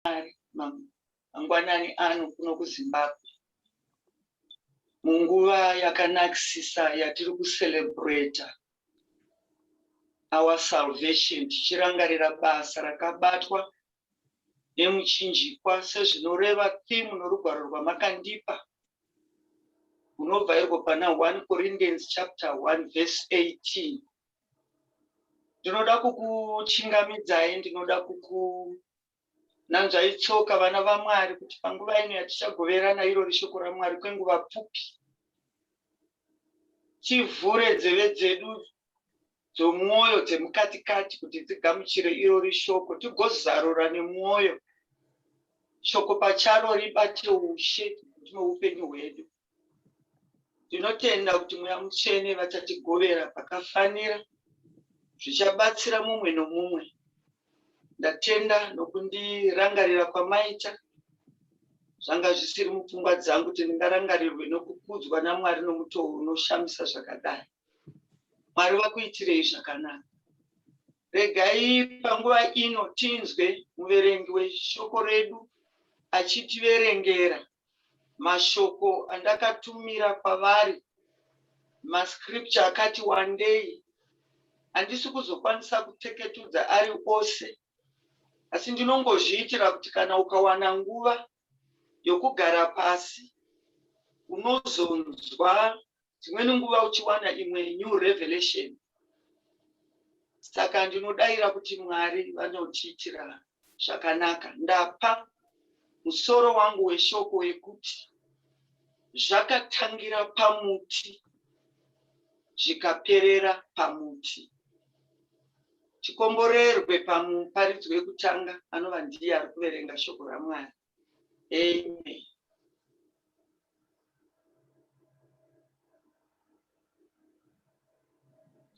Mwari mangwanani ano kuno kuZimbabwe munguva yakanakisisa yatiri kucelebrata our salvation tichirangarira basa rakabatwa nemuchinjikwa sezvinoreva thimu norugwaro rwamakandipa unobva irwo pana 1 corinthians chapter 1 verse 18 ndinoda kukuchingamidzai ndinoda kuku Nanzvai tsoka, vana vaMwari, kuti panguva ino yatichagoverana irori shoko raMwari kwenguva pfupi, tivhure nzeve dzedu dzomwoyo dzemukati-kati kuti dzigamuchire irori shoko, tigozarura nemwoyo shoko pacharo ribate ushe mukati meupenyu hwedu. Ndinotenda kuti Mweya Mutsvene vachatigovera pakafanira zvichabatsira mumwe nomumwe. Ndatenda nokundirangarira kwamaita. Zvanga zvisiri mupfungwa dzangu kuti ndingarangarirwe nokukudzwa naMwari nomutoo unoshamisa zvakadai. Mwari vakuitirei zvakanaka. Regai panguva ino tinzwe muverengi weshoko redu achitiverengera mashoko andakatumira kwavari, mascripture akati wandei. Handisi kuzokwanisa kuteketudza ari ose, asi ndinongozviitira kuti kana ukawana nguva yokugara pasi unozonzwa dzimweni nguva uchiwana imwe new revelation saka ndinodaira kuti mwari vanotiitira zvakanaka ndapa musoro wangu weshoko wekuti zvakatangira pamuti zvikaperera pamuti tikomborerwe pamuparidzo wekutanga anova ndiye ari kuverenga shoko ramwari Amen.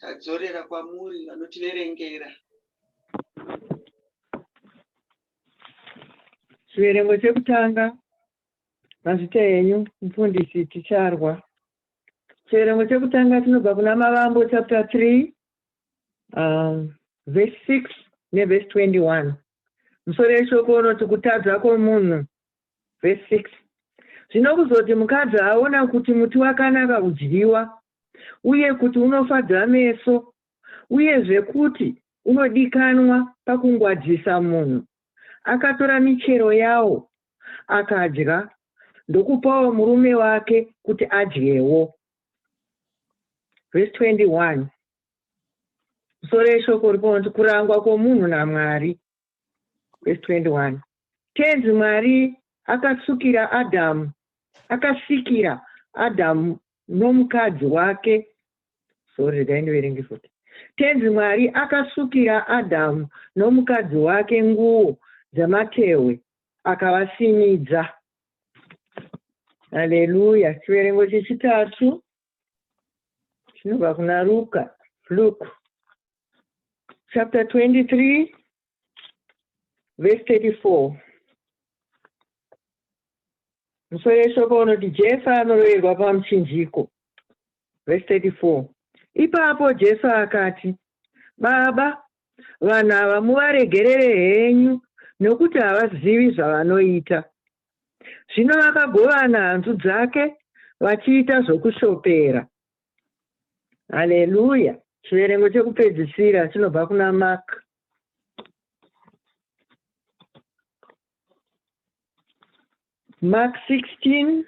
Tadzorera kwamuri vanotiverengera. Chiverengo chekutanga mazita enyu mfundisi ticharwa. Chiverengo chekutanga tinobva kuna Mavambo chapter 3 um, verse 6 neverse 21. Musoro yeshoko unoti kutadza kwomunhu. Vhesi 6 Zvino kuzoti mukadzi aona kuti muti wakanaka kudyiwa, uye kuti unofadza meso, uyezve kuti unodikanwa pakungwadzisa munhu, akatora michero yawo, akadya, ndokupawo murume wake kuti adyewo. Vhesi 21 soro yeshoko uri paunoti kurangwa kwomunhu namwari vhesi 21 tenzi mwari akasukira adhamu akasikira adhamu nomukadzi wake sori regai ndiverenge futi tenzi mwari akasukira adhamu nomukadzi wake nguo dzematehwe akavasimidza haleluya chiverengo chechitatu zvinobva kuna luka luke chapter 23 verse 34 musoro yeshoko unoti jesu anoroverwa pamuchinjiko verse 34 ipapo jesu akati baba vanhu ava muvaregerere henyu nokuti havazivi zvavanoita Zvino vakagovana hanzu dzake vachiita zvokushopera. Haleluya! Chiverengo chekupedzisira chinobva kuna Mark. Mark 16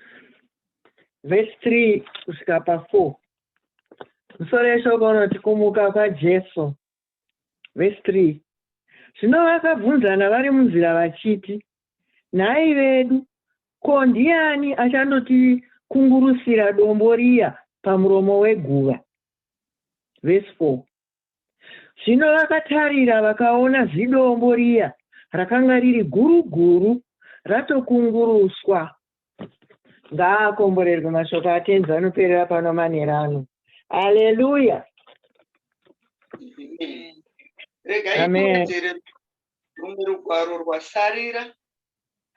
verse 3 kusvika pa 4. Musoro yeshoko unoti kumuka kwaJesu Vhesi 3 Zvino vakabvunzana vari munzira vachiti, Nhai vedu, ko ndiani achandotikungurusira dombo riya pamuromo weguva? Vhesi 4 Zvino vakatarira vakaona zidombo riya rakanga riri guru guru ratokunguruswa ngaakomborerwe mashoko atenzi anoperera pano manera ano aleluya regaikuudzere rumwe rugwaro rwasarira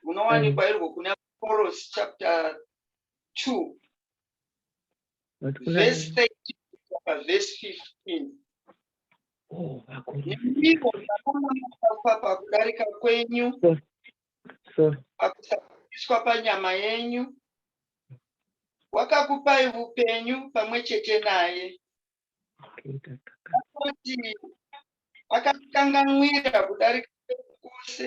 runowanikwa irwo kuna koros chapter 2 verse 13 verse 15 ndipo ndakamunofafa pakudarika kwenyu pakusaiswa panyama yenyu wakakupai upenyu pamwe chete naye kuti akakanganwira kudarika kwose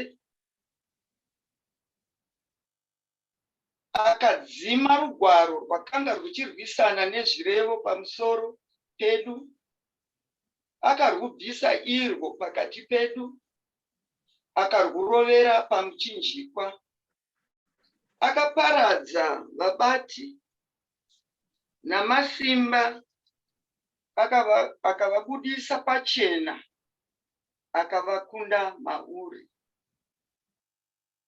akadzima rugwaro rwakanga rwuchirwisana nezvirevo pamusoro pedu akarwubvisa irwo pakati pedu akarwurovera pamuchinjikwa. Akaparadza vabati namasimba akavabudisa pachena akavakunda mauri.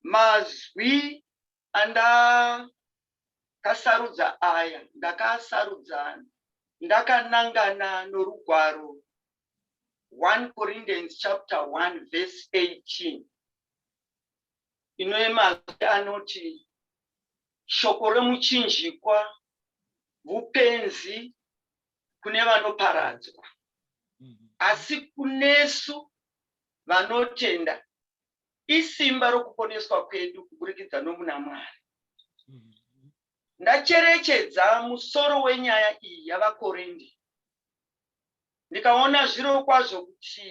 mazwi andakasarudza aya ndakaasarudza ndakanangana norugwaro 1 Corinthians chapter 1 verse 18 inoyemazwi anoti shoko remuchinjikwa vupenzi kune vanoparadzwa mm-hmm. asi kunesu vanotenda Isimba rokuponeswa kwedu kuburikidza nomuna Mwari. Ndacherechedza musoro wenyaya iyi yavaKorindi ndikaona zviro kwazvo kuti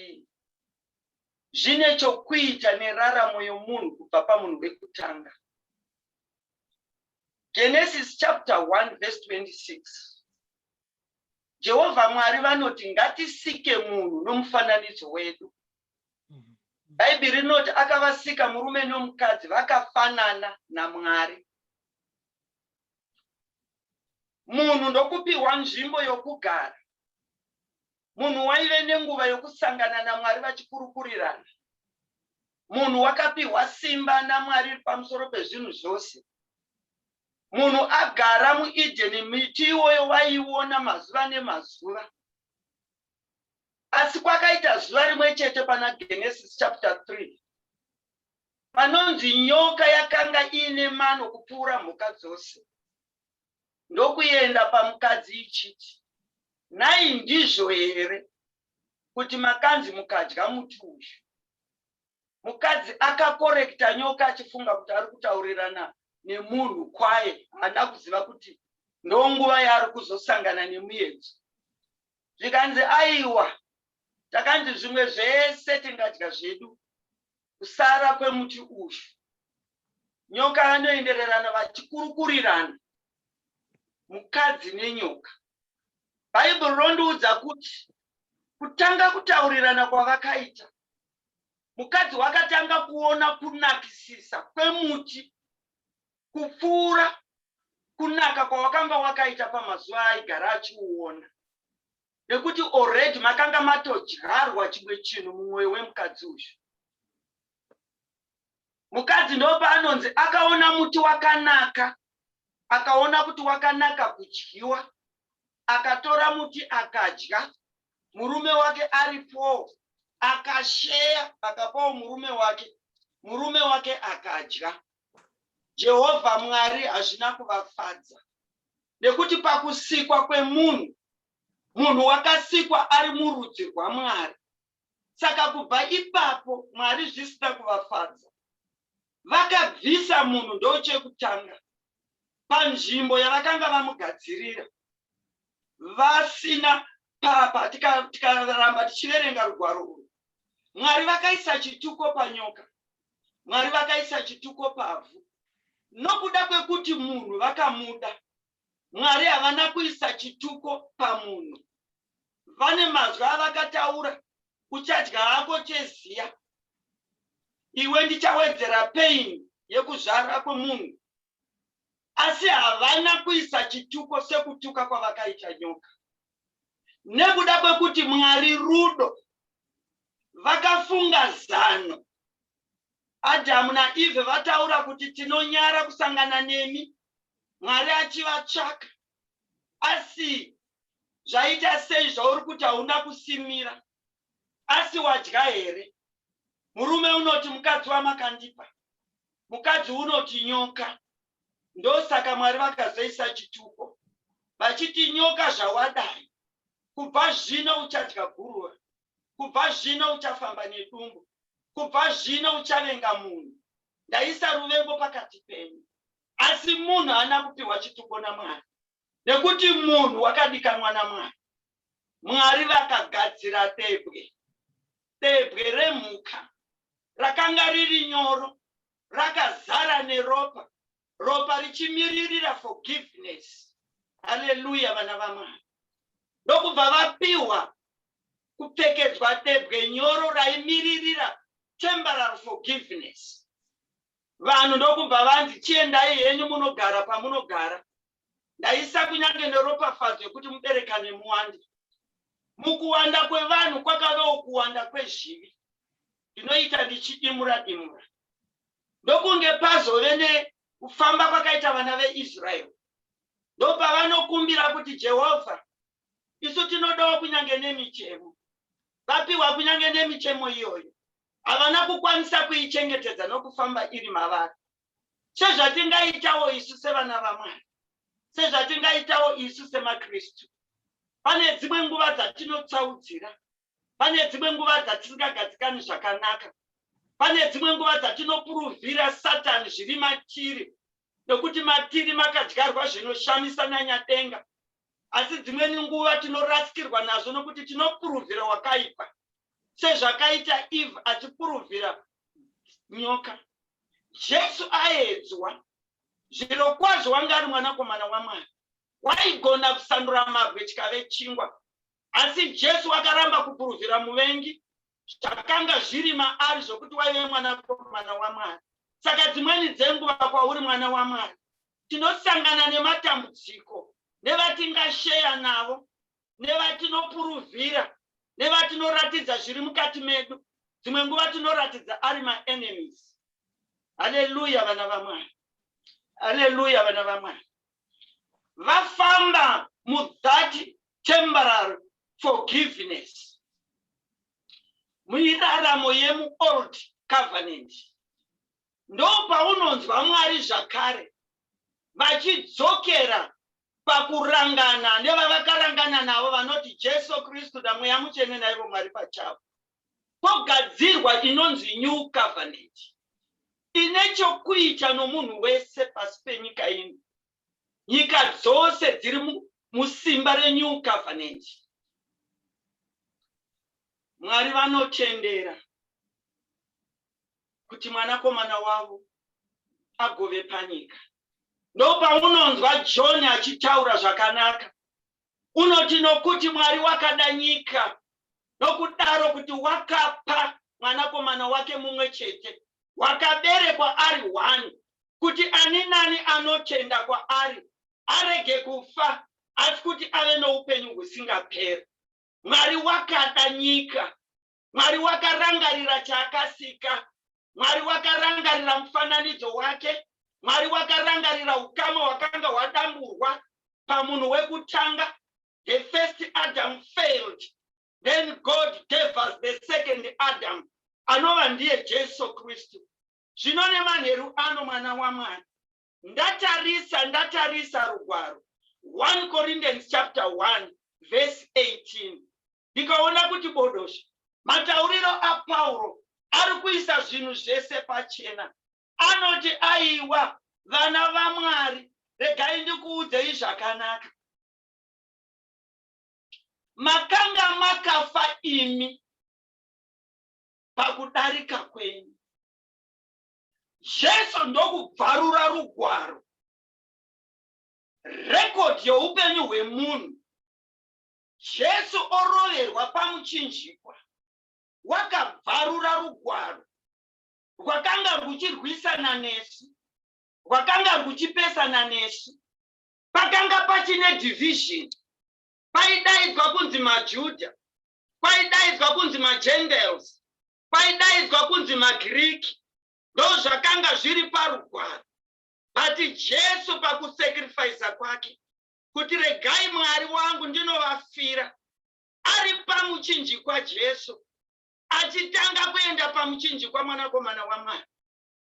zvine chokuita neraramo yomunhu kubva pamunhu wekutanga. Genesis chapter 1 verse 26. Jehovha Mwari vanoti ngatisike munhu nomufananidzo wedu. Bhaibheri rinoti akavasika murume nomukadzi vakafanana naMwari. Munhu ndokupiwa nzvimbo yokugara. Munhu waive nenguva yokusangana naMwari vachikurukurirana. Munhu wakapiwa simba naMwari pamusoro pezvinhu zvose. Munhu agara muEdeni, miti iwoyo waiona mazuva nemazuva. Asi kwakaita zuva rimwe chete pana Genesis chapter 3 panonzi nyoka yakanga iine mano kupfuura mhuka dzose ndokuenda pamukadzi ichiti, Nhai ndizvo here kuti makanzi mukadya muti uyu? Mukadzi akakorekita nyoka achifunga kuti ari kutaurirana nemunhu kwaye haana kuziva kuti ndonguva yaari kuzosangana nemuyedzo. zvikanzi aiwa takanzi zvimwe zvese tingadya zvedu kusara kwemuti uyu nyoka vanoendererana vachikurukurirana mukadzi nenyoka bhaibheri rondiudza kuti kutanga kutaurirana kwavakaita mukadzi wakatanga kuona kunakisisa kwemuti kupfuura kunaka kwawakanga wakaita pamazuva aigara achiuona nekuti already makanga matodyarwa chimwe chinhu mumwoyo wemukadzi uyu mukadzi ndopaanonzi akaona muti wakanaka akaona kuti wakanaka kudyiwa akatora muti akadya murume wake aripo akasheya akapawo murume wake murume wake akadya Jehovha Mwari hazvina kuvafadza nekuti pakusikwa kwemunhu, munhu wakasikwa ari murudzi rwaMwari. Saka kubva ipapo Mwari zvisina kuvafadza, vakabvisa munhu ndochekutanga panzvimbo yavakanga vamugadzirira. vasina papa tikaramba tika tichiverenga rugwaro urwu mwari vakaisa chituko panyoka mwari vakaisa chituko pavhu nokuda kwekuti munhu vakamuda mwari havana kuisa chituko pamunhu vane mazwi avakataura uchadya hako cheziya iwe ndichawedzera pain yekuzvara kwemunhu asi havana kuisa chituko sekutuka kwavakaita nyoka. Nekuda kwekuti Mwari rudo, vakafunga zano. Adhamu naEvhe vataura kuti tinonyara kusangana nemi, Mwari achivatsvaka. Asi zvaita sei zvauri kuti hauna kusimira? Asi wadya here? Murume unoti mukadzi wamakandipa. Mukadzi unoti nyoka. Ndosaka Mwari vakazoisa chituko vachiti nyoka zvawadai kubva zvino uchadya guruva, kubva zvino uchafamba nedumbu, kubva zvino uchavenga munhu. Ndaisa ruvengo pakati penyu. Asi munhu haana kupiwa chituko naMwari. Nekuti munhu wakadikanwa naMwari. Mwari vakagadzira debwe, debwe remhuka rakanga riri nyoro, rakazara neropa, ropa richimiririra forgiveness. Haleluya, vana vaMwari. Ndokubva vapiwa kupfekedzwa debwe nyoro raimiririra temporal forgiveness. Vanhu ndokubva vanzi, Chiendai henyu munogara pamunogara. Ndaisa kunyange neropafadzo yekuti muberekane muwande. Mukuwanda kwevanhu kwakavewo kuwanda kwezvivi. Ndinoita ndichidimura dimura. Ndokunge pazove nekufamba kwakaita vana veIsraeri. Ndopavanokumbira kuti Jehovha, isu tinodawo kunyange nemichemo. Vapiwa kunyange nemichemo iyoyo. havana kukwanisa kuichengetedza nokufamba iri mavari sezvatingaitawo isu sevana vamwari sezvatingaitawo isu semakristu pane dzimwe nguva dzatinotsaudzira pane dzimwe nguva dzatisingagadzikani zvakanaka pane dzimwe nguva dzatinopuruvhira satani zviri matiri nokuti matiri makadyarwa zvinoshamisa nanyadenga asi dzimweni nguva tinorasikirwa nazvo nokuti tinopuruvhira wakaipa sezvakaita eve achipuruvhira nyoka jesu aedzwa zviro kwazvo wanga ari mwanakomana wamwari waigona kusandura mabwe chikave chingwa asi jesu wakaramba kupuruvhira muvengi zvakanga zviri maari zvokuti waive mwanakomana wamwari saka dzimweni dzenguva kwauri mwana wamwari tinosangana nematambudziko nevatingasheya navo nevatinopuruvhira nevatinoratidza zviri mukati medu dzimwe nguva tinoratidza ari maenemies haleluya vana vamwari haleluya vana vamwari vafamba mu that temporal forgiveness muiraramo yemu old covenant ndopaunonzwa mwari zvakare vachidzokera pakurangana nevavakarangana navo vanoti jesu kristu namweya mutsvene naivo mwari pachavo Pogadzirwa inonzi New Covenant ine chokuita nomunhu wese pasi penyika ino. Nyika dzose dziri musimba reNew Covenant. Mwari vanotendera kuti mwanakomana wavo agove panyika. Ndopaunonzwa John achitaura zvakanaka unoti nokuti Mwari wakada nyika nokudaro kuti wakapa mwanakomana wake mumwe chete wakaberekwa ari one kuti ani nani anotenda kwaari arege kufa asi kuti ave noupenyu husingaperi mwari wakada nyika Mwari wakarangarira chaakasika. Mwari wakarangarira mufananidzo wake. Mwari wakarangarira ukama hwakanga hwadamburwa pamunhu wekutanga. The first Adam failed. Then God gave us the second Adam. Anova ndiye Jesu Kristu. Zvino nemanheru ano mwana waMwari. Ndatarisa, ndatarisa rugwaro. 1 Corinthians chapter 1 verse 18. ndikaona kuti bodosha. Matauriro aPauro ari kuisa zvinhu zvese pachena. Anoti, Aiwa, vana vaMwari, regai ndikuudzei zvakanaka. Makanga makafa imi pakudarika kwenyu. Jesu ndokubvarura rugwaro rekodhi youpenyu hwemunhu Jesu oroverwa pamuchinjikwa, wakabvarura rugwaro rwakanga rwuchirwisana nesu, rwakanga rwuchipesana nesu. Pakanga pachine division, paidaidzwa kunzi maJuda, kwaidaidzwa kunzi maGentiles, kwaidaidzwa kunzi maGiriki, ndozvakanga zviri parugwaro. But Jesu pakusacrifice kwake kuti regai mwari wangu ndinovafira ari pamuchinjikwa jesu achitanga kuenda pamuchinjikwa mwanakomana wamwari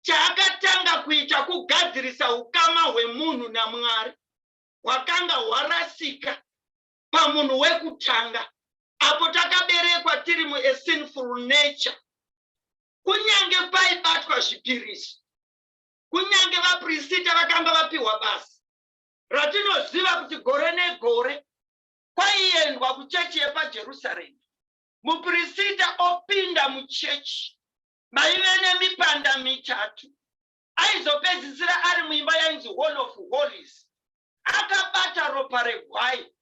chaakatanga kuita kugadzirisa ukama hwemunhu namwari hwakanga hwarasika pamunhu wekutanga apo takaberekwa tiri muesinful nature kunyange paibatwa zvipiriso kunyange vaprisita vakanga vapiwa basa ratinoziva kuti gore negore kwaiendwa kuchechi yepajerusarema mupirisita opinda muchechi maive nemipanda mitatu aizopedzisira ari muimba yainzi hall of hollies akabata ropa regwai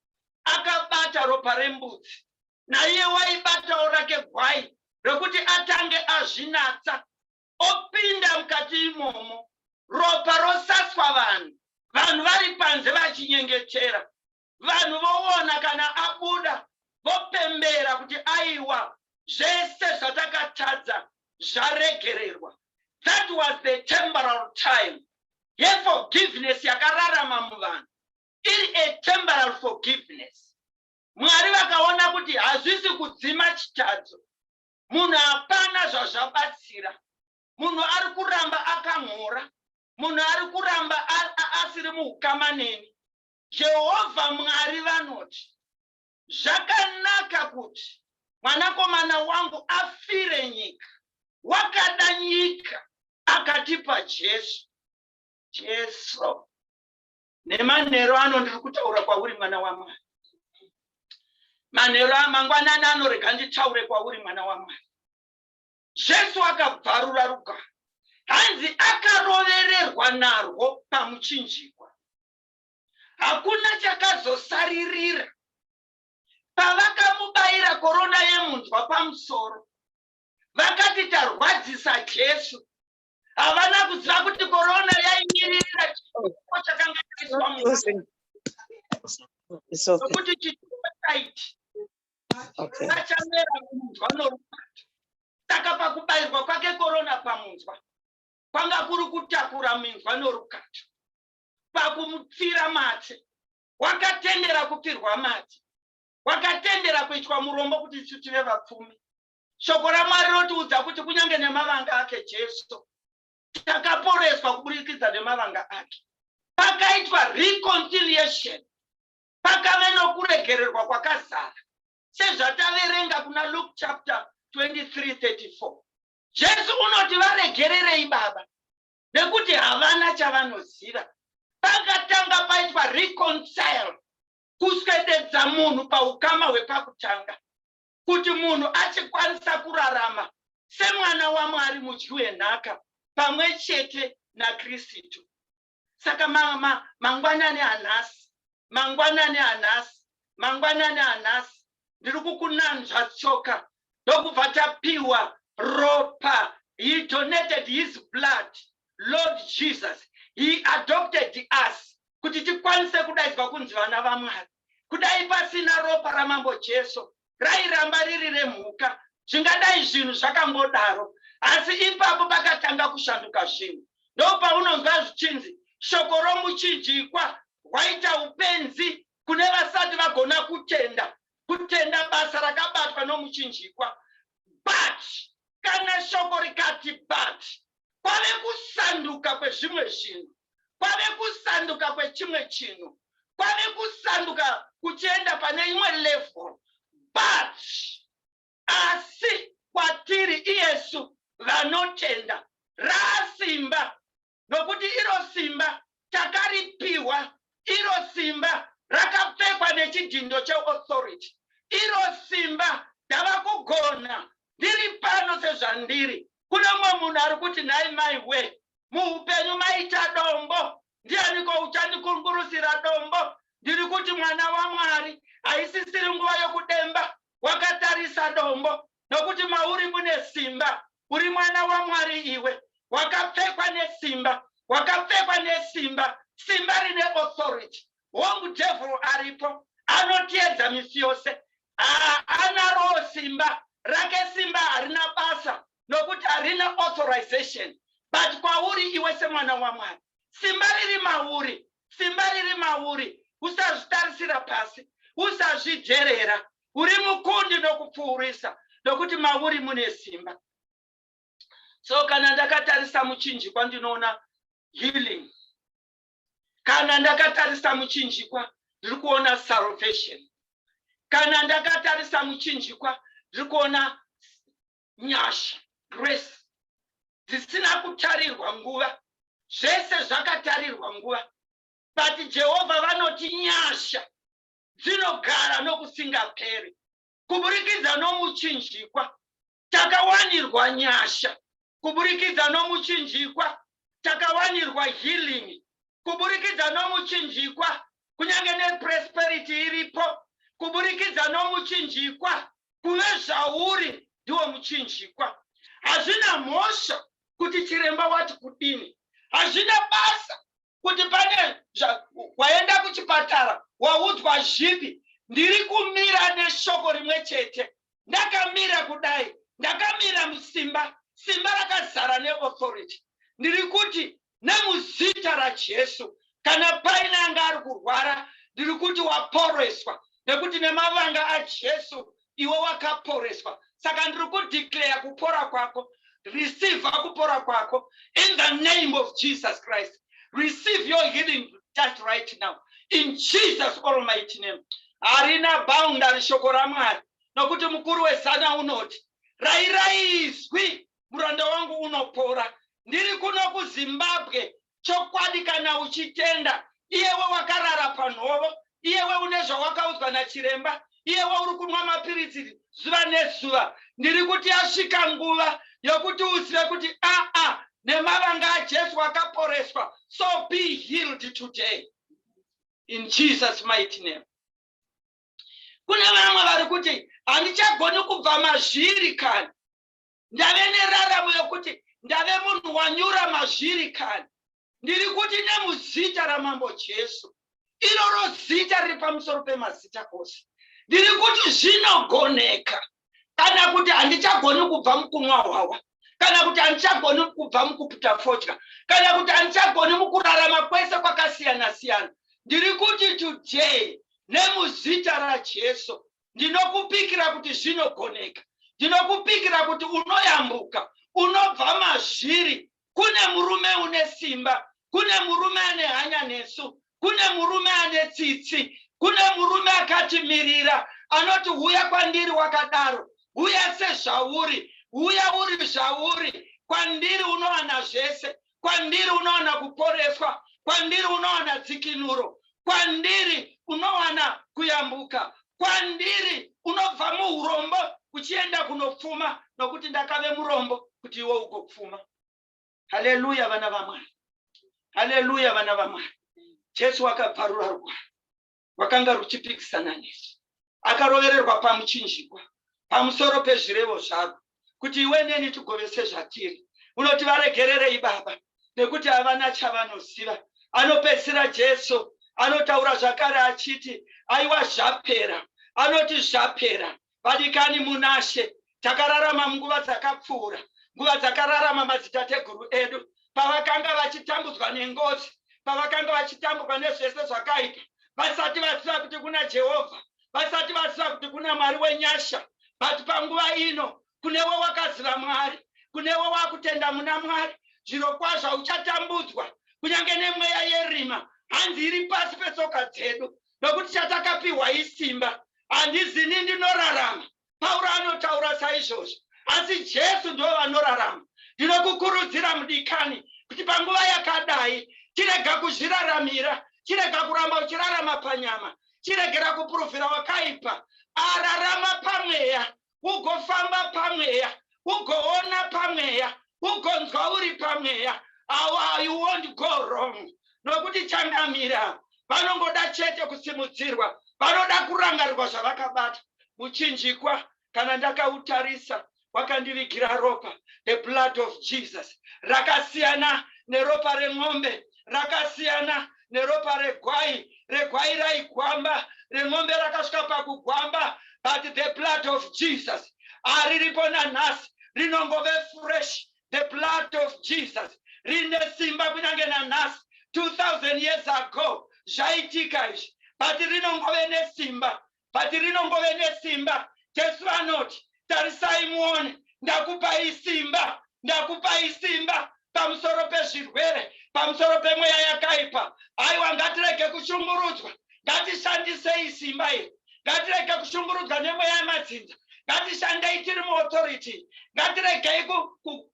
akabata ropa rembudzi naiye waibatawo rake gwai rekuti atange azvinatsa opinda mukati imomo ropa rosaswa vanhu vanhu vari panze vachinyengetera vanhu voona kana abuda vopembera kuti aiwa zvese zvatakatadza zvaregererwa that was the temporal time yeforgiveness yakararama muvanhu iri a temporal forgiveness mwari vakaona kuti hazvisi kudzima chitadzo munhu hapana zvazvabatsira munhu ari kuramba akamhora munhu ari kuramba asiri muukama neni jehovha mwari vanoti zvakanaka kuti mwanakomana wangu afire nyika wakada nyika akatipa jesu jesu Nemanheru ano ndiri kutaura kwauri mwana waMwari. Manheru amangwanani ano rega nditaure kwauri mwana waMwari. Jesu akabvarura rugare. Hanzi akarovererwa narwo pamuchinjikwa. Hakuna chakazosaririra. Pavakamubaira korona yemunzwa pamusoro, vakati tarwadzisa Jesu havana kuziva kuti korona yaimirira chituko chakanga chaiswa munokuti chituko chaiti achamera munzwa norukati saka pakubairwa kwake korona pamunzwa kwanga kuri kutakura minzwa norukati pakumupfira matsi wakatendera kupfirwa matsi wakatendera kuitwa murombo kuti isu tive vapfumi Shoko raMwari rotiudza kuti kunyange nemavanga ake Jesu takaporeswa kuburikidza nemavanga ake. Pakaitwa reconciliation, pakave nokuregererwa kwakazara sezvataverenga kuna Luke chapter 23 34. Jesu unoti varegererei Baba nekuti havana chavanoziva. Pakatanga paitwa reconcile, kuswededza munhu paukama hwepakutanga. kuti munhu achikwanisa kurarama semwana wamwari mudyi wenhaka pamwe chete nakristu saka mama mangwanani anhasi mangwanani anhasi mangwanani anhasi ndiri kukunanzva tsoka ndokubva tapiwa ropa he donated his blood lord jesus he adopted us kuti tikwanise kudaidzwa kunzi vana vamwari Kudai pasina ropa raMambo Jesu rairamba riri remhuka, zvingadai zvinhu zvakangodaro. Asi ipapo pakatanga kushanduka zvinhu. Ndopaunonzwa zvichinzi shoko romuchinjikwa rwaita upenzi kune vasati vagona kutenda. Kutenda basa rakabatwa nomuchinjikwa. But kana shoko rikati but kwave kusanduka kwezvimwe zvinhu. kwave kusanduka kwechimwe chinhu kwave kusanduka kuchienda pane imwe level but asi kwatiri iyesu vanotenda raasimba nokuti iro simba takaripiwa iro simba rakapfekwa nechidhindo cheauthority iro simba ndava kugona ndiri pano sezvandiri kune mumwe munhu ari kuti nhai mai we muupenyu maita dombo ndianiko uchandikungurusira dombo ndiri kuti mwana wamwari haisisiri nguva yokudemba wakatarisa dombo nokuti mauri mune simba uri mwana wamwari iwe wakapfekwa nesimba wakapfekwa nesimba simba rine authority hongu devhuru aripo anotiedza misi yose haanaroo simba rake simba harina basa nokuti harina authorization. But kwauri iwe semwana waMwari, simba riri mauri, simba riri mauri. Usazvitarisira pasi, usazvijerera. Uri mukundi nokupfuurisa, nokuti mauri mune simba. So kana ndakatarisa muchinjikwa ndinoona healing. Kana ndakatarisa muchinjikwa ndiri kuona salvation. Kana ndakatarisa muchinjikwa ndiri kuona nyasha, grace, dzisina kutarirwa nguva. Zvese zvakatarirwa nguva. But Jehovha vanoti nyasha dzinogara nokusingaperi. Kuburikidza nomuchinjikwa, takawanirwa nyasha. Kuburikidza nomuchinjikwa, takawanirwa healing. kuburikidza nomuchinjikwa kunyange nepresperity iripo kuburikidza nomuchinjikwa kuve zvauri ndiwo muchinjikwa hazvina mhosva kuti chiremba wati kudini hazvina basa kuti pane waenda kuchipatara waudzwa zvipi ndiri kumira neshoko rimwe chete ndakamira kudai ndakamira musimba simba rakazara neauthority ndiri kuti Nemuzita raJesu, kana paine anga ari kurwara, ndiri kuti waporeswa, nekuti nemavanga aJesu iwe wakaporeswa. Saka ndiri kudeclare kupora kwako. Receive kupora kwako in the name of Jesus Christ. Receive your healing just right now in Jesus almighty name. Harina boundary shoko raMwari, nokuti mukuru wezana unoti, rairai izwi muranda wangu unopora ndiri kuno kuzimbabwe chokwadi kana uchitenda iyewe wakarara panhovo iyewe une zvawakaudzwa nachiremba iyewe uri kunwa mapiritsi zuva nezuva ndiri kuti yasvika nguva yokuti uzive kuti aa nemavanga ajesu wakaporeswa so be healed today in jesus mighty name kune vamwe vari kuti handichagoni kubva mazviri kana ndave neraramo yokuti ndave munhu wanyura mazviri kani ndiri kuti nemuzita ramambo jesu iroro zita riri pamusoro pemazita ose ndiri kuti zvinogoneka kana kuti handichagoni kubva mukunwa hwawa kana kuti handichagoni kubva mukuputa fodya kana kuti handichagoni mukurarama kwese kwakasiyana siyana ndiri kuti today nemuzita rajesu ndinokupikira kuti zvinogoneka ndinokupikira kuti unoyambuka unobva mazviri kune murume une simba kune murume ane hanya nesu kune murume ane tsitsi kune murume akatimirira anoti huya kwandiri wakadaro huya sezvauri huya uri zvauri kwandiri unowana zvese kwandiri unowana kuporeswa kwandiri unowana dzikinuro kwandiri unowana kuyambuka kwandiri unobva muurombo uchienda kunopfuma nokuti ndakave murombo kuti iwe ugopfuma haleluya vana vamwari haleluya vana vamwari jesu wakabvarura rugwaro rwakanga ruchipikisana nezvi akarovererwa pamuchinjikwa pamusoro pezvirevo zvarwo kuti iwe neni tigove sezvatiri unoti varegererei baba nekuti havana chavanoziva anopedzisira jesu anotaura zvakare achiti aiwa zvapera anoti zvapera Vadikani munaShe, takararama munguva dzakapfuura, nguva dzakararama madzitateguru edu pavakanga vachitambudzwa nengozi, pavakanga vachitambudzwa nezvese zvakaipa, vasati vaziva kuti kuna Jehovha, vasati vaziva kuti kuna Mwari wenyasha. But panguva ino kunewe wakaziva Mwari, kunewe wakutenda muna Mwari, zviro kwazvo uchatambudzwa kunyange nemweya yerima hanzi iri pasi petsoka dzedu nokuti chatakapiwa isimba. Handizi ini ndinorarama, Pauro anotaura saizvozvo, asi Jesu ndivo vanorarama. Ndinokukurudzira mudikani kuti panguva yakadai chirega kuzviraramira, chirega kuramba uchirarama panyama, chiregera kupuruvhira wakaipa, ararama pamweya ugofamba pamweya ugoona pamweya ugonzwa uri pamweya awa you won't go wrong nokuti changamira vanongoda chete kusimudzirwa vanoda kurangarirwa zvavakabata muchinjikwa kana ndakautarisa wakandivigira ropa the blood of jesus rakasiyana neropa remombe rakasiyana neropa regwai regwai raigwamba ren'ombe rakasvika pakugwamba but the blood of jesus ariripo nanhasi rinongove fresh the blood of jesus rine simba kunyange nanhasi 2000 years ago zvaitika izvi but rinongove nesimba but rinongove nesimba. Jesu anoti, Tarisai muone, ndakupai simba, ndakupai simba pamusoro pezvirwere, pamusoro pemweya yakaipa. Aiwa, ngatirege kushungurudzwa, ngatishandisei simba iri, ngatirege kushungurudzwa nemweya yemadzinza ngatishandei tiri muauthority ngatiregei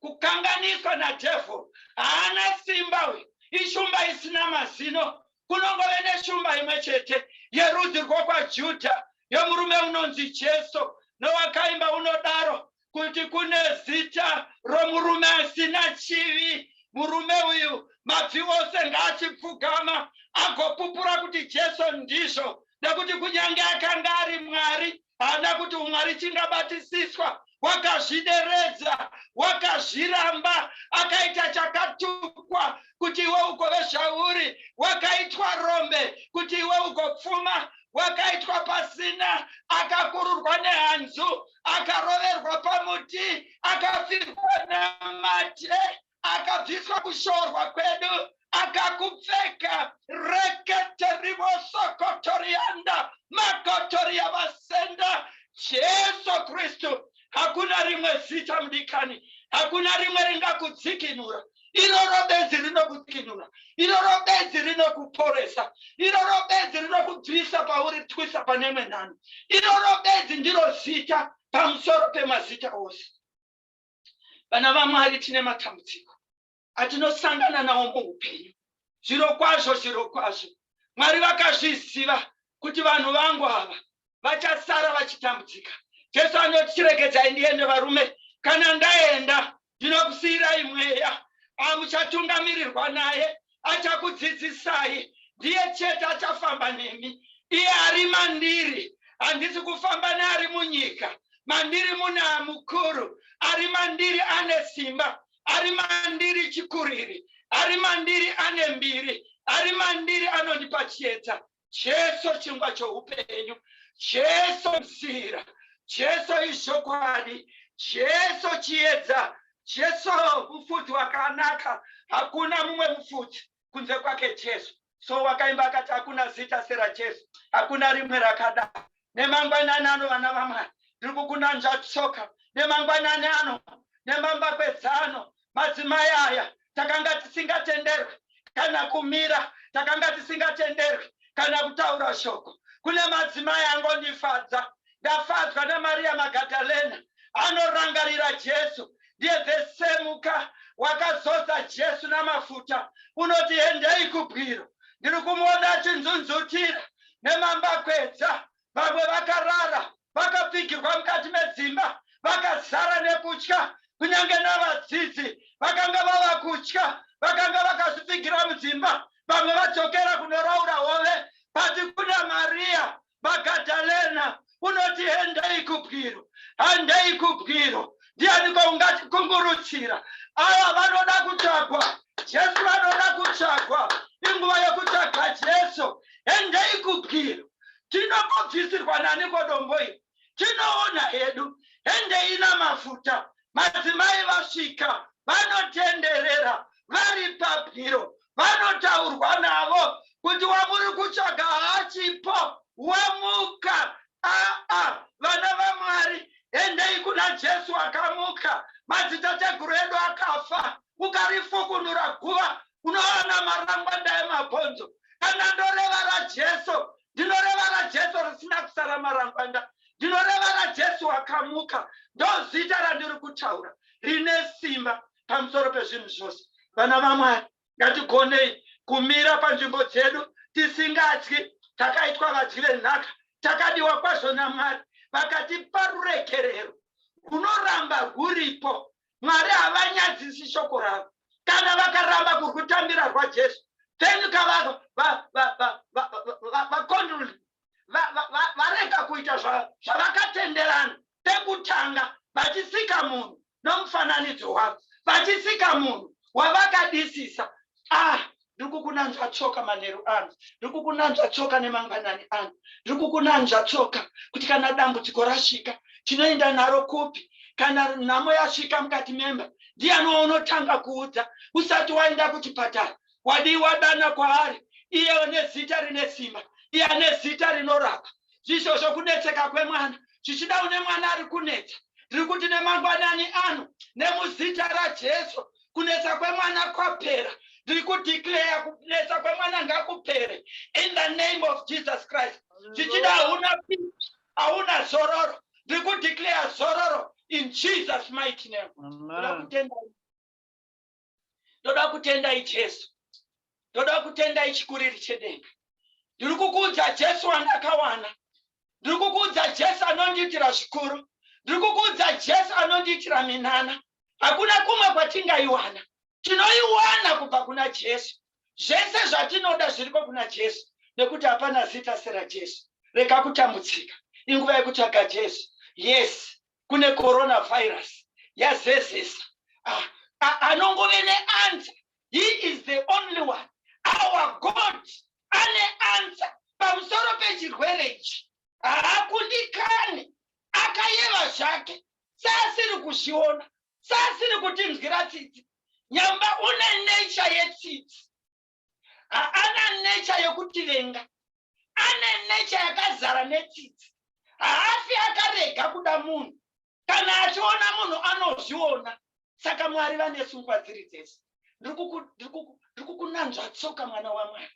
kukanganiswa nadevil haana simba uyu ishumba isina mazino kunongove neshumba imwe chete yerudzi rwokwaJudha yomurume unonzi Jesu, nowakaimba unodaro kuti kune zita romurume asina chivi. Murume uyu mabvi ose ngaachipfugama agopupura kuti Jesu ndizvo, nekuti kunyange akanga ari Mwari, haana kuti umwari chingabatisiswa wakazvideredza wakazviramba akaita chakatukwa kuti iwe ugove zvauri wakaitwa rombe kuti iwe ugopfuma wakaitwa pasina akakururwa nehanzu akaroverwa pamuti akafirwa namate akabviswa kushorwa kwedu akakupfeka rekete rivosokotorianda makotori yavasenda jesu kristu hakuna rimwe zita mudikani hakuna rimwe ringakudzikinura iroro benzi rinokukinura iroro benzi rinokuporesa iroro benzi rinokubvisa pauri twisa pane imwe nhano iroro benzi ndiro zita pamusoro pemazita ose Vana vaMwari tine matambudziko atinosangana nawo muupenyu. Zviro kwazvo, zviro kwazvo, Mwari vakazviziva kuti vanhu vangu ava vachasara vachitambudzika. Jesu anoti, chiregedzai ndiende varume, kana ndaenda ndinokusiyirai mweya amuchatungamirirwa naye achakudzidzisai ndiye chete achafamba nemi iye ari mandiri handisi kufamba neari munyika mandiri muna mukuru ari mandiri ane simba ari mandiri chikuriri ari mandiri ane mbiri ari mandiri anondipa chiedza Jesu chingwa choupenyu, Jesu nzira, Jesu izvokwadi, Jesu chiedza, Jesu mufudzi wakanaka. Hakuna mumwe mufudzi kunze kwake Jesu. So wakaimba akati hakuna zita seraJesu, hakuna rimwe rakadaro. nemangwanani ano vana vamwari ndiri kukunanzva tsoka nemangwanani ano nemambakwedzano madzimai aya takanga tisingatenderwe kana kumira takanga tisingatenderwe kana kutaura shoko kune madzimai angondifadza ndafadzwa namariya magadalena anorangarira jesu ndiye vesemuka wakazodza jesu namafuta unoti endei kubwiro ndiri kumuona achinzunzutira nemambakwedza, vamwe vakarara vakapfigirwa mukati medzimba vakazara nekutya, kunyange navadzidzi vakanga vava kutya, vakanga vakazvipfigira mudzimba, vamwe vadzokera kunoraura hove. But kuna Maria Magadalena unoti endai kubwiro handei kubwiro ndianiko ungati kungurutsira ava vanoda kutsvagwa jesu vanoda kutsvagwa inguva yokutsvaga jesu endei kubwiro tinobvobvisirwa naniko dombo iri tinoona hedu endei namafuta madzimai vasvika vanotenderera vari pabwiro vanotaurwa navo kuti wamuri kutsvaga haachipo wamuka aa vana vamwari endei kuna jesu akamuka madzitateguru edu akafa ukarifukunura guva unoona marangwanda emabhonzo kana ndoreva rajesu Ndinoreva raJesu risina kusara marangwanda. Ndinoreva raJesu wakamuka. Ndozita randiri kutaura rine simba pamusoro pezvinhu zvose. Vana vaMwari, ngatigonei kumira panzvimbo dzedu tisingatyi. Takaitwa vadyi venhaka, takadiwa kwazvo naMwari, vakatipa ruregerero rwunoramba rwuripo Mwari havanyadzisi shoko ravo. Kana vakaramba kurwutambira rwaJesu, then kavava vakonduli varega kuita zvavakatenderana pekutanga vachisika munhu nomufananidzo wavo vachisika munhu wavakadisisa ah ndiri kukunanzva tsoka manheru ano ndiri kukunanzva tsoka nemangwanani ano ndiri kukunanzva tsoka kuti kana dambudziko rasvika tinoenda naro kupi kana nhamo yasvika mukati memba ndiyani waunotanga kuudza usati waenda kuchipatara wadii wadana kwaari iye une zita rine simba iye ane zita rinorapa zvisvozvo kunetseka kwemwana zvichida une mwana ari kunetsa ndiri kuti nemangwanani ano nemuzita rajesu kunetsa kwemwana kwapera ndiri kudeclare kunetsa kwemwana ngakupere in the name of jesus christ zvichida hauna peace hauna zororo ndiri kudeclare zororo in jesus mighty name ndoda kutendai ndoda kutendai jesu ndoda kutenda ichikuriri chedenga ndiri kukuudza jesu wandakawana ndiri kukuudza jesu anondiitira zvikuru ndiri kukuudza jesu anondiitira minana hakuna kumwe kwatingaiwana tinoiwana kubva kuna jesu zvese zvatinoda zviriko kuna jesu nekuti hapana zita serajesu rega kutambudzika inguva yekutsvaga jesu yes kune coronavirus yazezesa ah, ah, anongove neansa he is the only one our god ane ansa pamusoro pechirwere ichi haakundikani akayeva zvake saasiri kuzviona saasiri kutinzwira tsitsi nyamba une nature yetsitsi haana necha yokutivenga ane necha yakazara netsitsi haafi akarega kuda munhu kana achiona munhu anozviona saka mwari vane sungwa dziri dzese ndiri kukunanzva tsoka mwana wamwari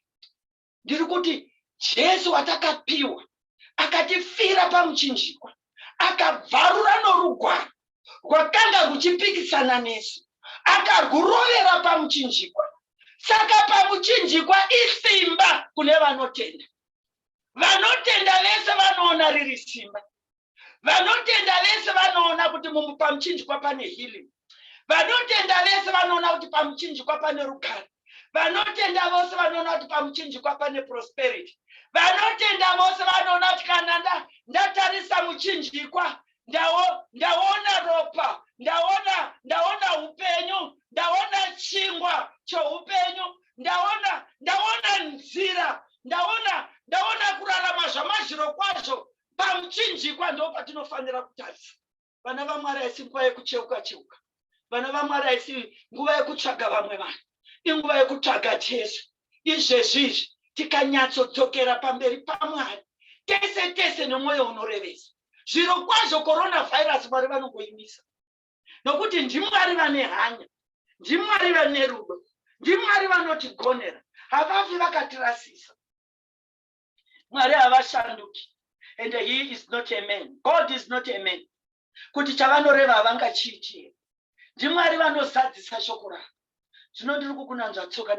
ndiri kuti jesu watakapiwa akatifira pamuchinjikwa akabvarura norugwaro rwakanga rwuchipikisana nesu akagurovera pamuchinjikwa saka pamuchinjikwa isimba kune vanotenda vanotenda vese vanoona riri simba vanotenda vese vanoona kuti pamuchinjikwa pane healing Vanotenda vese vanoona kuti pamuchinjikwa pane rugare. Vanotenda vose vanoona kuti pamuchinjikwa pane prosperity. Vanotenda vose vanoona kuti kana nda, ndatarisa muchinjikwa ndawo, ndaona ropa, ndaona, ndaona upenyu, ndaona chingwa choupenyu, ndaona, ndaona nzira, ndaona, ndaona kurarama zvamazviro kwazvo. Pamuchinjikwa ndo patinofanira kutarisa. vana vamwari haisi nguva yekucheuka cheuka vana vamwari haisi nguva yekutsvaga vamwe vanhu inguva yekutsvaga jesu izvezvi izvi tikanyatsodzokera pamberi pamwari tese tese nemwoyo unorevesa zviro kwazvo coronavirus mwari vanongoimisa nokuti ndimwari vane hanya ndimwari vane rudo ndimwari vanotigonera havafi vakatirasisa mwari havashanduki and he is not a man god is not a man kuti chavanoreva havangachiitie ndimwari vanozadzisa shoko ravo zvino ndiri kukunanzva tsoka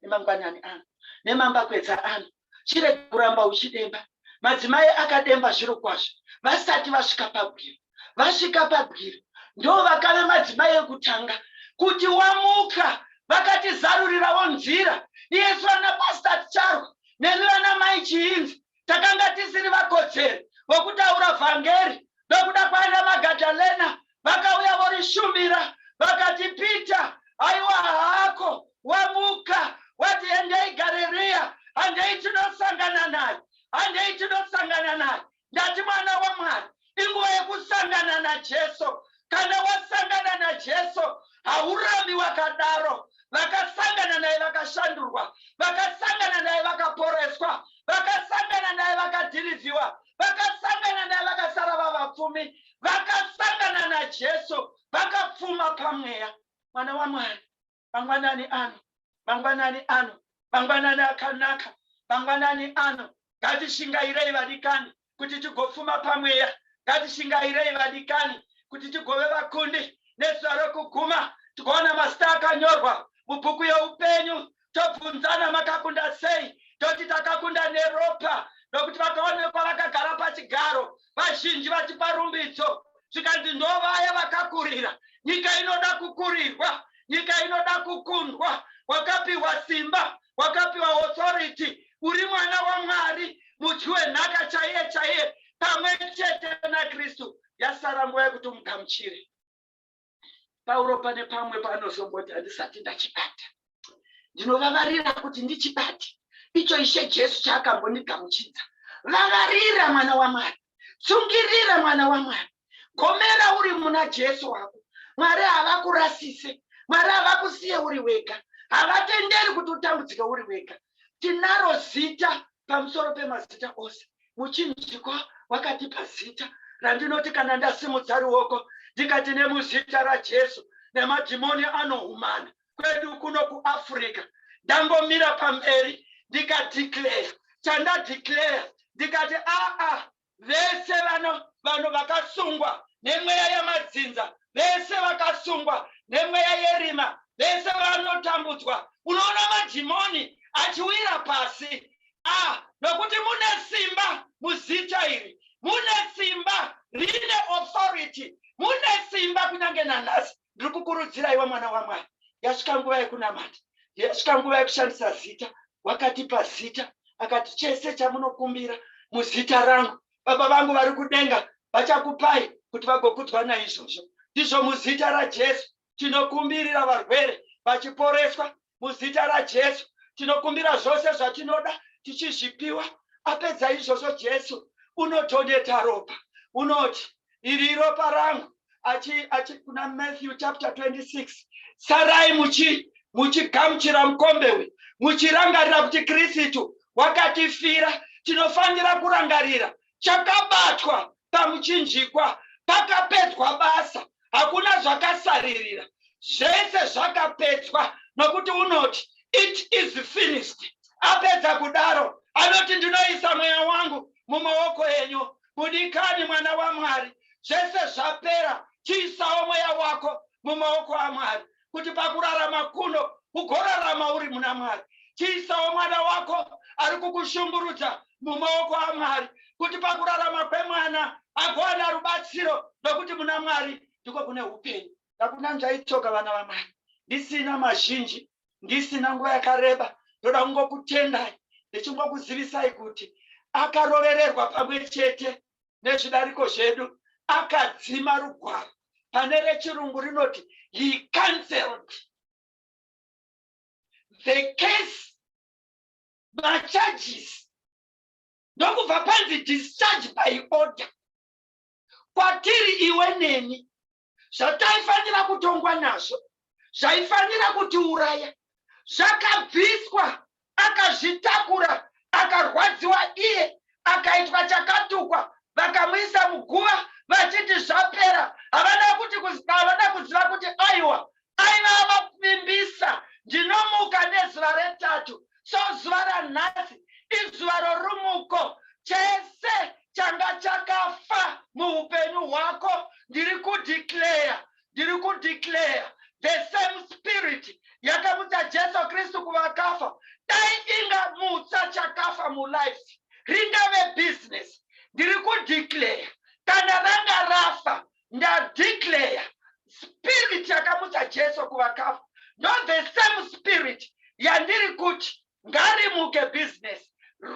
nemangwanani ano nemamba kwedza ano chirege kuramba uchidemba madzimai akademba zviro kwazvo vasati vasvika pagwiro vasvika pabwiro ndivo vakave madzimai ekutanga kuti wamuka vakatizarurirawo nzira iyesu vana pastor ticharwa nemi vana mai chiinzi takanga tisiri vakodzeri vokutaura vhangeri nokuda kwaana magadalena vakauya vorishumira vakati peter aiwa haako wamuka wati endei gareriya handei tinosangana naye handei tinosangana naye ndati mwana wamwari inguva yekusangana najesu kana wasangana najesu haurambi wakadaro vakasangana naye vakashandurwa vakasangana naye vakaporeswa vakasangana naye vakadhirivhiwa vakasangana naye vakasara vavapfumi vakasangana najesu vakapfuma pamweya mwana wamwari mangwanani ano mangwanani ano mangwanani akanaka mangwanani ano ngatishingairei vadikani kuti tigopfuma pamweya ngatishingairei vadikani kuti tigove vakundi nezuva rokuguma tikaona masita akanyorwa mubhuku yeupenyu tobvunzana makakunda sei toti takakunda neropa nokuti vakaonekwa vakagara pachigaro vazhinji vatipa rumbidzo zvikanzi ndovaya vakakurira nyika inoda kukurirwa nyika inoda kukundwa wakapiwa simba wakapiwa authority uri mwana wamwari mudyi wenhaka chaiye chaiye pamwe chete nakristu yasara nguva yekuti umugamuchire Pauro pane pamwe paanozomboti handisati ndachibata. Ndinovavarira kuti ndichibate icho Ishe Jesu chaakambondigamuchidza. Vavarira mwana waMwari, tsungirira mwana waMwari, gomera uri muna Jesu wako. Mwari havakurasise, Mwari havakusiye uri wega, havatenderi kuti utambudzike uri wega. tinaro zita pamusoro pemazita ose muchinjiko wakatipa zita randinoti kana ndasimudza ruoko ndikati nemuzita rajesu nemadhimoni anohumana kwedu kuno kuafrica ndangomira pamberi ndikadeclare chandadeclare ndikati aa Vese vano, vanhu vakasungwa nemweya yamadzinza, vese vakasungwa nemweya yerima, vese vanotambudzwa. Unoona madhimoni achiwira pasi. A, nokuti mune simba muzita iri. Mune simba rine authority. Mune simba kunyange nanhasi. ndiri kukurudzira iwe mwana wamwari yasvika nguva yekunamata yasvika nguva yekushandisa zita wakatipa zita akati chese chamunokumbira muzita rangu baba vangu vari kudenga vachakupai kuti vagokudzwa naizvozvo ndizvo muzita rajesu tinokumbirira varwere vachiporeswa muzita rajesu tinokumbira zvose zvatinoda tichizvipiwa apedza izvozvo jesu unotoneta ropa unoti iri ropa rangu achi, achi kuna matthew chapter 26 sarai muchi muchigamuchira mukombe uyu muchirangarira kuti kristu wakatifira tinofanira kurangarira chakabatwa pamuchinjikwa pakapedzwa basa hakuna zvakasaririra zvese zvakapedzwa nokuti unoti it is finished apedza kudaro anoti ndinoisa mweya wangu mumaoko enyu budikani mwana wamwari zvese zvapera chiisawo mweya wako mumaoko amwari kuti pakurarama kuno ugorarama uri muna mwari chiisawo mwana wako ari kukushumburudza mumaoko amwari kuti pakurarama kwemwana agowana rubatsiro nokuti muna mwari ndiko kune upenyu hakuna njaitsoka vana vamwari ndisina mazhinji ndisina nguva yakareba ndoda kungokutendai ndichingokuzivisai kuti akarovererwa pamwe chete nezvidariko zvedu akadzima rugwaro pane rechirungu rinoti he cancelled the case macharges ndokubva panzi discharge by order kwatiri iwe neni zvataifanira kutongwa nazvo zvaifanira kutiuraya zvakabviswa akazvitakura akarwadziwa iye akaitwa chakatukwa vakamuisa muguva vachiti zvapera havana kuti havana kuziva kuti aiwa Aiva ava kuvimbisa, Ndinomuka nezuva retatu. So zuva ranhasi izuva rorumuko. Chese changa chakafa muhupenyu hwako ndiri kudeclare, ndiri kudeclare the same spirit yakamutsa Jesu Kristu kuvakafa dai ingamutsa chakafa mulife. Ringave business, ndiri kudeclare kana ranga rafa ndadeclare spirit yakamutsa jesu kuvakafa not the same spirit yandiri kuti ngarimuke business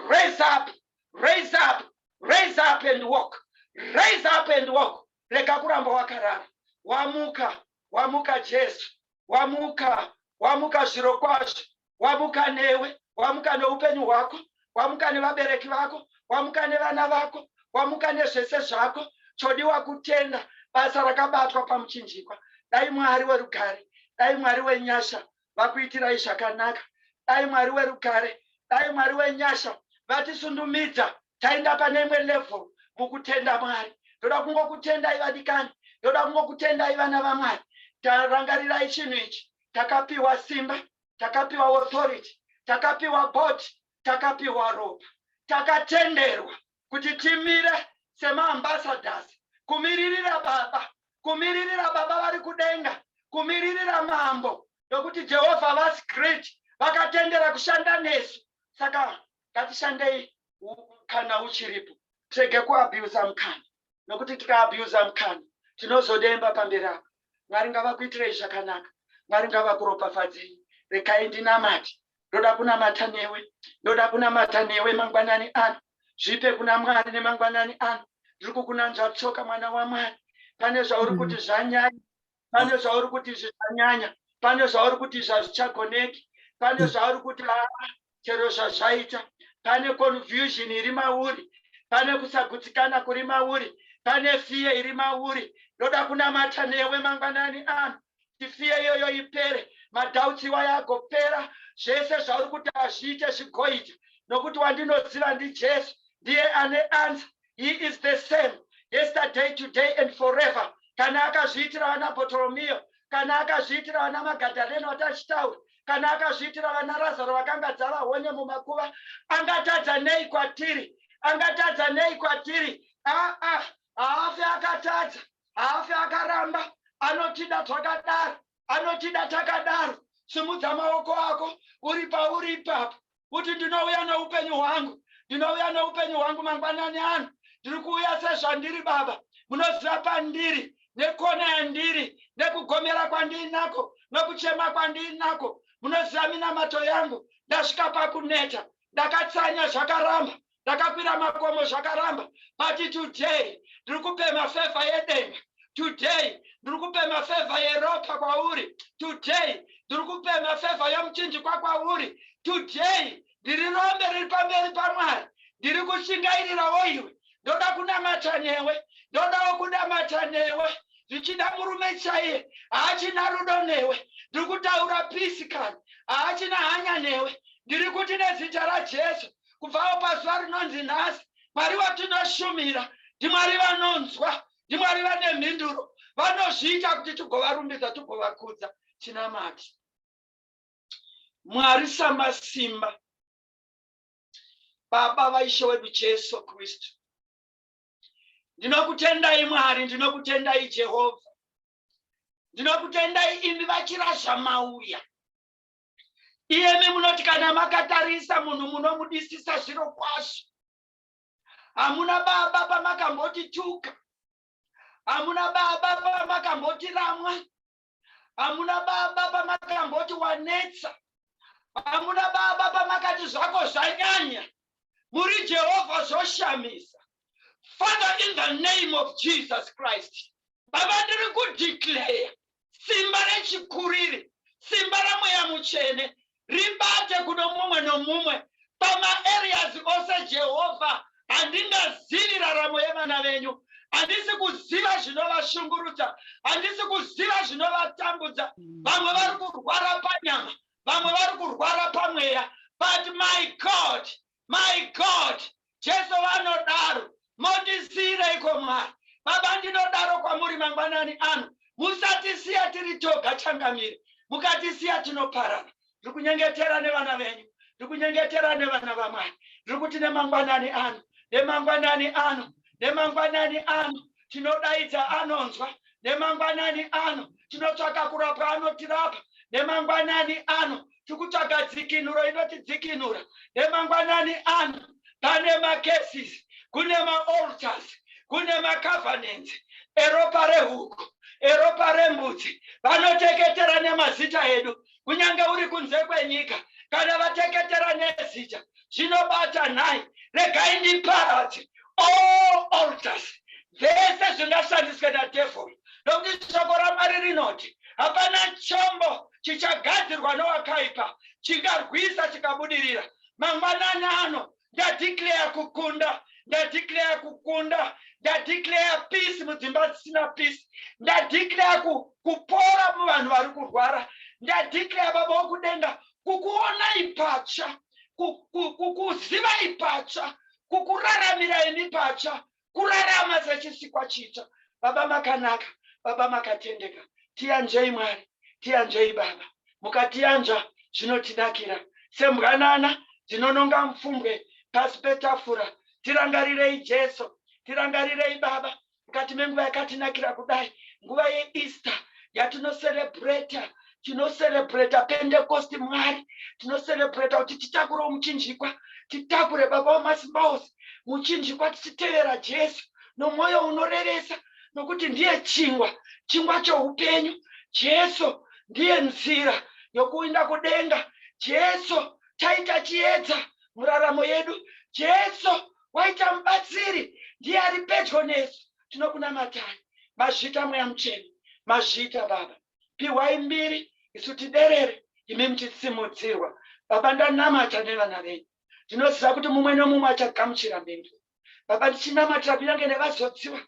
raise up raise up raise up and walk raise up and walk rega kuramba wakarara wamuka wamuka jesu wamuka wamuka zvirokwazvo wamuka newe wamuka neupenyu hwako wamuka nevabereki vako wamuka nevana vako wamuka nezvese zvako chodiwa kutenda basa rakabatwa pamuchinjikwa dai mwari werugare dai mwari wenyasha vakuitirai zvakanaka dai mwari werugare dai mwari wenyasha vatisundumidza Taenda pane imwe level mukutenda Mwari. Ndoda kungokutendai vadikani, ndoda kungokutendai vana vaMwari. Tarangarirai chinhu ichi, takapiwa simba, takapiwa authority, takapiwa board, takapiwa ropa, takatenderwa kuti timire semaambassadors kumiririra Baba, kumiririra Baba vari kudenga, kumiririra Mambo, nokuti Jehovha vasi great vakatendera kushanda nesu. Saka ngatishandei kana uchiripo tirege kuabusa mukana nokuti tikaabusa mukana tinozodemba pamberi apo mwari ngavakuitirei zvakanaka mwari ngavakuropafadzei regai ndinamati ndoda kunamata newe ndoda kunamata newe mangwanani ano zvipe kuna mwari nemangwanani ano ndiri kukunanzva tsoka mwana wamwari pane zvauri mm. kuti zvanyanya pane zvauri kuti izvi zvanyanya pane zvauri kuti izvi hazvichagoneki pane zvauri kuti haa chero zvazvaita pane confusion iri mauri pane kusagutsikana kuri mauri pane fiye iri mauri ndoda kunamata newe mangwanani ano tifiye iyoyo ipere madhautsi iwayo agopera zvese zvauri kuti hazviite zvigoita nokuti wandinoziva ndijesu ndiye ane anza he is the same yesterday today and forever kana akazviitira vana botoromiyo kana akazviitira vana magadhareno vatachitaura kana akazviitira vana razaro vakanga dzava hone mumakuva angatadza nei kwatiri angatadza nei kwatiri aa ah, ah, haafe akatadza haafe akaramba anotida twakadaro anotida takadaro simudza maoko ako uri pauri ipapo kuti ndinouya noupenyu hwangu ndinouya noupenyu hwangu mangwanani ano ndiri kuuya sezvandiri baba munoziva pandiri nekona yandiri nekugomera kwandiinako nokuchema kwandiinako munoziva minamato yangu ndasvika pakuneta ndakatsanya zvakaramba ndakakwira makomo zvakaramba but today ndiri kupema fevha yedenga today ndiri kupema fevha yeropa kwauri today ndiri kupema fevha yomuchinjikwa kwauri today ndiri rombe riri pamberi pamwari ndiri kushingairirawo iwe ndoda kunamata newe ndodawo kunamata newe zvichida murume chaiye haachina rudo newe ndiri kutaura pisi kani haachina hanya newe ndiri kuti nezita rajesu kubvawo pazuva rinonzi nhasi mwari vatinoshumira ndimwari vanonzwa ndimwari vane mhinduro vanozviita kuti tigovarumbidza tigovakudza tinamati mwari samasimba baba vaishe wedu jesu kristu ndinokutendai mwari ndinokutendai jehovha ndinokutendai imi vachira zvamauya iyemi munoti kana makatarisa munhu munomudisisa zviro kwazvo hamuna baba pamakamboti tuka hamuna baba pamakamboti ramwa hamuna baba pamakamboti wanetsa hamuna baba pamakati zvako zvanyanya muri Jehovha zvoshamisa Father in the name of Jesus Christ Baba ndiri kudeclare simba rechikuriri simba ramweya mutsvene ribate kuno mumwe nomumwe pamaareas ose jehovha handingazivi raramo yevana venyu handisi kuziva zvinovashungurudza handisi kuziva zvinovatambudza vamwe vari kurwara panyama vamwe vari kurwara pamweya but my god my god jesu vanodaro motisiireiko mwari baba ndinodaro kwamuri mangwanani ano musatisiya tiri toga changamire mukatisiya tinoparana ndiri kunyengetera nevana venyu ndiri kunyengetera nevana vamwari ndiri kuti nemangwanani ano nemangwanani ano nemangwanani ano tinodaidza anonzwa nemangwanani ano tinotsvaka kurapwa anotirapa nemangwanani ano tikutsvaga dzikinuro inotidzikinura nemangwanani ano pane macases kune maalters kune macovenants eropa rehuku eropa rembudzi vanoteketera nemazita edu kunyange uri kunze kwenyika kana vateketera nezita zvinobata nhai regai ndiparadze all altars zvese zvingashandiswe nadevhori nokuti shoko ramwari rinoti hapana chombo chichagadzirwa nowakaipa chingarwisa chikabudirira mangwanani ano ndadeclare kukunda ndadeclare kukunda ndadeclare peace mudzimba dzisina peace ndadeclare ku, kupora muvanhu vari kurwara ndadeclare baba wokudenga kukuonai patsva kukuzivai patsva kukuraramirai mipatsva kurarama sechisikwa chitsva baba makanaka baba makatendeka tiyanzvei mwari tiyanzvei baba mukatiyanzva zvinotidakira sembwanana dzinononga mupfumbwe pasi petafura tirangarirei jesu tirangarirei baba mukati menguva yakatinakira kudai nguva yeeaster yatinoserebreta tinoserebreta pentekosti mwari tinoserebreta kuti titakurewo muchinjikwa titakure baba wamasimba ose muchinjikwa tichitevera jesu nomwoyo unorevesa nokuti ndiye chingwa chingwa choupenyu jesu ndiye nzira yokuinda kudenga jesu chaita chiedza muraramo yedu jesu waita mubatsiri ndiye ari pedyo nesu tinokunamatani mazvita mweya mucheni mazvita baba pihwai mbiri isu tiderere imi muchisimudzirwa baba ndanamata nevana venyu ndinoziva kuti mumwe nomumwe achagamuchira mhinduro baba ndichinamatira kunyange nevazodziwa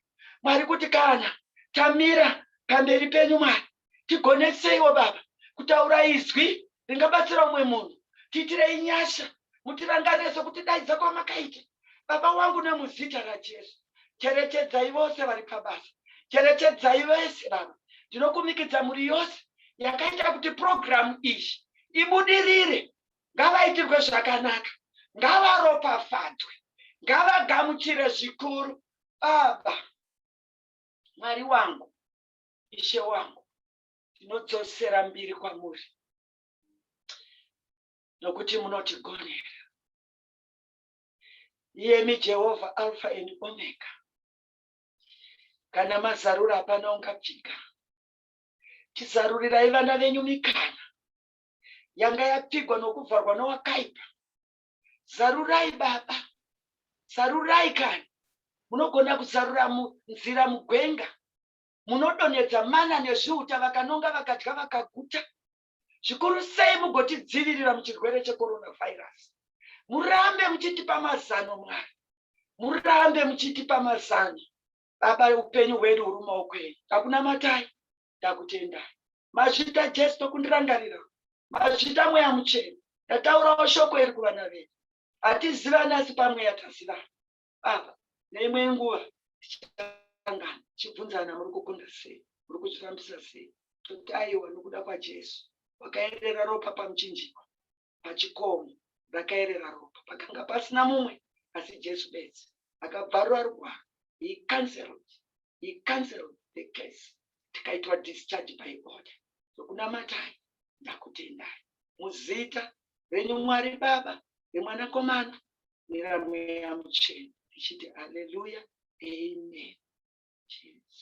mwari kuti kana tamira pamberi penyu mwari tigoneseiwo baba kutaura izwi ringabatsira umwe munhu tiitirei nyasha mutirangarire sokutidaidza kwamakaita baba wangu nemuzita rajesu cherechedzai vose vari pabasa cherechedzai vese baba ndinokumikidza mhuri yose yakaita kuti purogiramu iyi ibudirire ngavaitirwe zvakanaka ngavaropafadzwe ngavagamuchire zvikuru baba mwari wangu ishe wangu tinodzosera mbiri kwamuri nokuti munotigonera iyemi jehovha alfa and omega kana mazarura hapana ungapfika tizarurirai vana venyu mikana yanga yapfigwa nokuvharwa nowakaipa zarurai baba zarurai kana munogona kuzarura nzira mugwenga munodonhedza mana nezviuta vakanonga vakadya vakaguta zvikuru sei mugotidzivirira muchirwere checoronavirus murambe muchitipa mazano mwari murambe muchitipa mazano baba upenyu hwedu huri mumaoko enyu takunamatai takutendai mazvita jesu tokundirangarira mazvita mweya muchena ndataurawo shoko iri kuvana vedu hatizivani asi pamweya tazivana apa neimwe nguva tichasangana tichibvunzana muri kukunda sei muri kuzvifambisa sei toti aiwa nokuda kwajesu wakaerera ropa pamuchinjikwa pachikomo rakaerera ropa pakanga pasina mumwe asi jesu bedzi akabvarura rugwaro he cancelled he cancelled the case tikaitwa discharge by order zvokunamatai ndakutendai muzita renyu mwari baba remwanakomana mira mweya muchena tichiti aleluya amen Jesus.